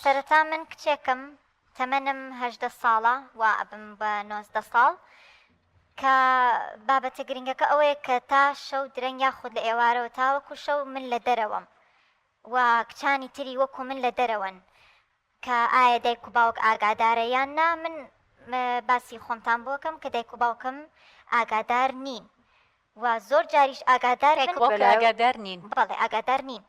سەرەتا من کچێکم تەمەنم هەژدە ساڵە وا ئەبم بە نۆزدە ساڵ کە بابەتە گرنگەکە ئەوەیە کە تا شەو درەنگ یاخود لە ئێوارەوە تاوەکو شەو من لە دەرەوەم و کچانی تری وەکو من لە دەرەوەن کە ئایا دایک و باوک ئاگادارە یان نا من باسی خۆمتان بۆکەم کە دایک و باوکم ئاگادار نین و زۆر جاریش ئاگادار ئاگادار نین بەڵێ ئاگادار نین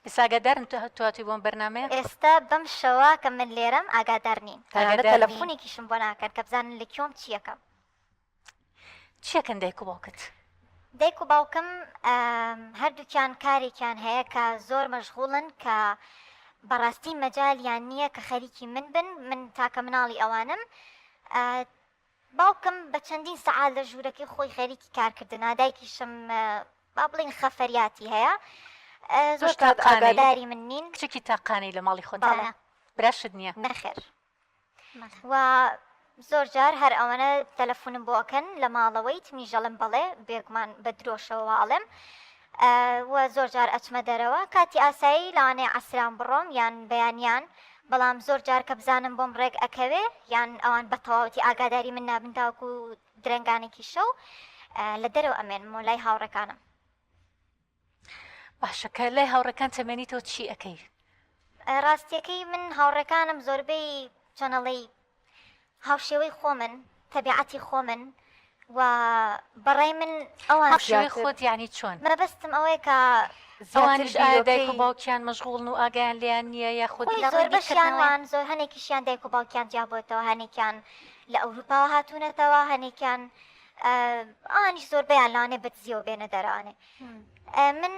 ئێستا ئاگادارن تۆ هاتووی بۆم بەرنامەیە؟ ئێستا بەم شەوە کە من لێرەم ئاگادار نین. تەنانەت تەلەفونێکیشم بۆ ناکەن کە بزانن لە کوێم چییەکەم. چییەکەن دایک و باوکت؟ دایک و باوکم هەردووکیان کارێکیان هەیە کە زۆر مەشغوڵن کە بەڕاستی مەجالیان نییە کە خەریکی من بن، من تاکە مناڵی ئەوانم. باوکم بە چەندین سەعات لە ژوورەکەی خۆی خەریکی کارکردنە، دایکیشم با بڵێین خەفەریاتی هەیە، زۆر کات ئاگاداری من نین. تۆش کچێکی تاقانەی لە ماڵی خۆتدا؟ بەڵێ. براشت نییە؟ نەخێر. و زۆر جار هەر ئەوەنە تەلەفونم بۆ ئەکەن لە ماڵەوەیت؟ منیش ئەڵێم بەڵێ، بێگومان بە درۆشەوە وا ئەڵێم. و زۆر جار ئەچمە دەرەوە کاتی ئاسایی لەوانەیە عەسران بڕۆم یان بەیانیان بەڵام زۆر جار کە بزانم بۆم ڕێک ئەکەوێ یان ئەوان بە تەواوەتی ئاگاداری من نابن تاوەکو درەنگانێکی شەو لە دەرەوە ئەمێنمەوە لای هاوڕێکانم باشە کە لای هاوڕێکان تەمێنی تۆ چی ئەەکەی؟ ڕاستیەکەی من هاوڕێکانم زۆربەی چەنەڵی هاوشێوەی خۆمن تەبیعەتی خۆمن و بەڕای من ئەوان هاوشێوەی خۆت یانی چۆن؟ مەبەستم ئەوەیە کە ئەوانیش ئایا دایک و باوکیان مەشغوڵن و ئاگایان لێیان نییە یاخود لە ڕووی بیرکردنەوەیان؟ زۆر هەنێکیشیان دایک و باوکیان جیابۆتەوە هەنێکیان لە ئەوروپاوە هاتوونەتەوە هەنێکیان ئەوانیش زۆربەیان لەوانەیە بەدزییەوە بێنە دەرەوە من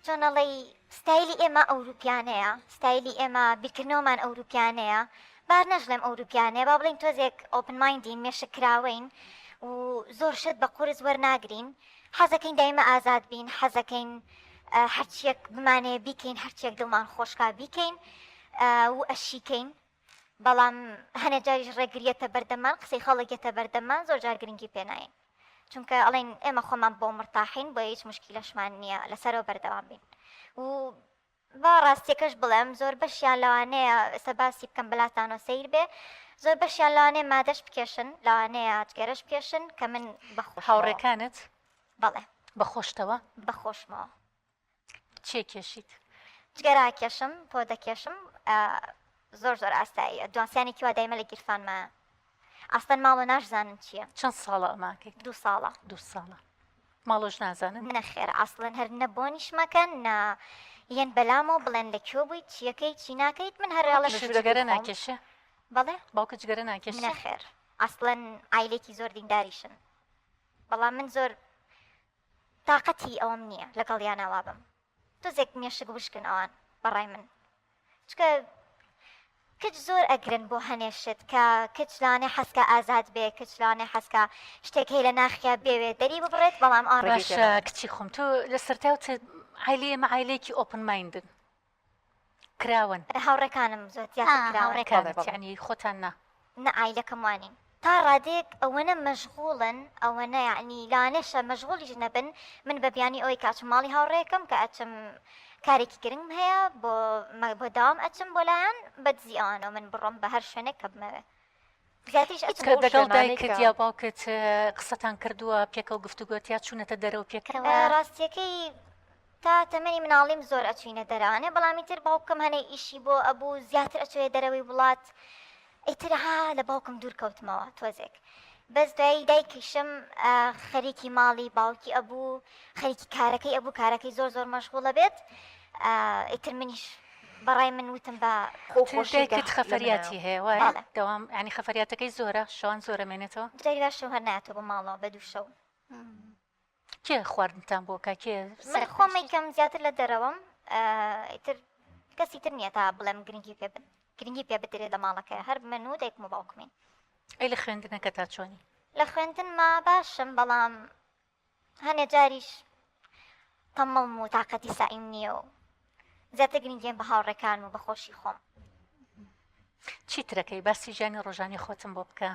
چۆن ئەڵێی ستایلی ئێمە ئەوروپیانەیە، ستایلی ئێمە بیرکردنەوەمان ئەوروپیانەیە، با نەشڵێم ئەوروپیانەیە با بڵێین تۆزێک ئۆپن مایندین مێشک کراوەین و زۆر شت بە قورس وەرناگرین، حەزەکەین دایمە ئازاد بین، حەزەکەین هەرچییەک بمانەوێ بیکەین، هەرچییەک دڵمان خۆش کا بیکەین و ئەشیکەین. بەڵام هەنێ جاریش ڕێگری یەتە بەردەممان قسەی خەڵک یەتە بەردەممان زۆر جار گرنگی پێ ناین چونکە ئەڵێن ئێمە خۆمان بۆ مرتاحین بۆیە هیچ مشکیلەشمان نییە لەسەرەوە بەردەوام بین و با ڕاستیەکەش بڵێم زۆر بەشیان لەوانەیە ئێستا باسی بکەم بەلاتانۆ سیر بێ زۆر بەشیان لەوانەیە مادەش بکێشن لەوانەیە جگەرەش بکێشن کە من بەخۆ هاوڕێکانت بەڵێ بەخۆشتەوە بەخۆشمەوە چێ کێشیت؟ جگەرە ئەکێشم، پۆ دەکێشم، زۆر زۆر ئاساییە، دوانسیانێکی وا دایمە لە گیرفانمە. ئاستەن ماڵۆ ناشزانن چییە. چەند ساڵە ئەماکەیت؟ دوو ساڵە. دوو ساڵە. ماڵۆش نازانن؟ نەخێر ئاسڵەن هەر نە بۆنیش مەکەن نا یەن بەلامەوە بڵێن لە کوێ بوویت چیەکەی چی ناکەیت من هەر ئەڵە جگەرە ناکێشێ بەڵێ باوکە جگەرە ناکێش نەخێر ئاسڵەن ئایلێکی زۆر دینداریشن بەڵام من زۆر تاقەتی ئەوەم نیە لەگەڵیانا وابم تۆزێک مێشک وشکن ئەوان بەڕای من چکە کچ زۆر ئەگرن بۆ هەنێ شت کە کچ لانێ حەزکە ئازاد بێ کچ لانێ حەزکە شتێک هەی لە ناخیا بێوێ دەری ببڕێت بەڵام ئەوان ڕێگەی باشە تێناگەن. کچی خۆم تۆ لە سەرتاوت عایلەی ئێمە عایلەیەکی ئۆپن مایندن کراون. ئەرە هاوڕێکانم زۆر تیا تر کراون. ئا هاوڕێکانت یەعنی خۆتان نا. نا عایلەکەم وانین تا ڕادەیەک ئەوەنە مەژغوڵن ئەوەنە یەعنی لەوانەشە مەژغوڵیش نەبن من بە بیانوی ئەوەی کە ئەچم ماڵی هاوڕێکەم کە ئەچم کارێکی گرنگم هەیە بۆ بۆ داوام ئەچم بۆ لایان بە دزی ئەوانەوە من بڕۆم بە هەر شوێنێک کە بمەوێ کە دەگەڵ دایکت یا باوکت قسەتان کردووە پێکەوە گفتوگۆت یا چوونەتە دەرەوە پێکەوە؟ ڕاستیەکەی تا تەمەنی مناڵیم زۆر ئەچوینە دەرانێ بەڵامی تر باوکم هەنێ ئیشی بۆ ئەبوو زیاتر ئەچێ دەرەوەی وڵات ئیترها لە باوکم دوور کەوتمەوە تۆزێک. بەس دوایی دایکیشم خەریکی ماڵی باوکی ئەبوو خەریکی کارەکەی ئەبوو کارەکەی زۆر زۆر مەشغوڵە بێت ئیتر منیش بەڕای من وتم با خۆ چون خۆشی دایکت گەخ لە خەفەریاتی منەوە هەیە وایە بەڵێ دەوام یانی خەفەریاتەکەی زۆرە شەوان زۆر ئەمێنێتەوە برای باشم هەر نایەتەوە بۆ ماڵەوە بە دوو شەو کێ خواردنتان بۆ کا کێ من سەرپێ خۆم یکەم زیاتر لە دەرەوەم ئا، ئیتر کەسی تر نییە تا بڵێم گرنگی پێ بد گرنگی پێ بدرێت لە ماڵەکەی هەر من و دایکم و باوکمین ئەی لە خوێندنەکە تا چۆنی لە خوێندنما باشم بەڵام هەنێ جاریش تەمەڵم و تاقەتی سەعیم نییە و زیاتر گرنگیم بە هاوڕێکان و بە خۆشی خۆم. چیترەکەی باسی ژیانی ڕۆژانی خۆتم بۆ بکە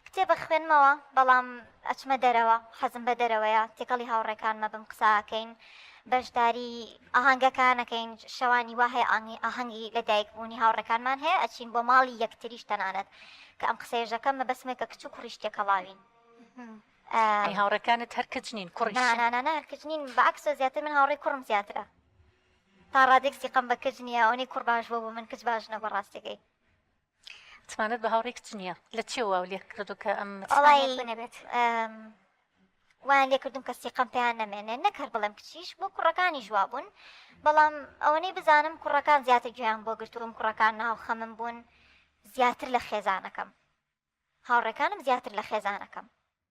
کتێبە خوێنمەوە بەڵام ئەچمە دەرەوە حەزم بە دەرەوەیە تێکەڵی هاوڕێکانمە بم قساکەین بەشداری ئاهنگەکانەکەین شەوانی وا هەیە ئاهنگی ئاهەنگی لە دایک بوونی هاوڕەکانمان هەیە ئەچین بۆ ماڵی یەکتریش تەنانەت کە ئەم قسەێژەکەم مە بەسمێکە کچ و کوڕیشتێکەڵاوین ئەی هاوڕێکانت هەر کچ نین کوڕیش نا نا نا نا هەر کچ نین بەعەکسە زیاتر من هاوڕێی کوڕم زیاترە تا ڕادێک سیقەم بە کچ نییە ئەوەی کوڕ باش بووە بۆ من کچ باش نەبووە ڕاستەکەی متمانەت بە هاوڕێی کچ نییە لە چێ واو لێ کردو کە ئەم متمانەت بۆ نەبێت ئەم، وایان لێ کردووم کە سیقەم پێیان نەمێنێ نەک هەر بڵێم کچیش بۆ کوڕەکانیش وا بوون بەڵام ئەوەنەی بزانم کوڕەکان زیاتر گوێیان بۆ گرتووم کوڕەکان ناو خەمم بوون زیاتر لە خێزانەکەم. هاوڕێکانم زیاتر لە خێزانەکەم.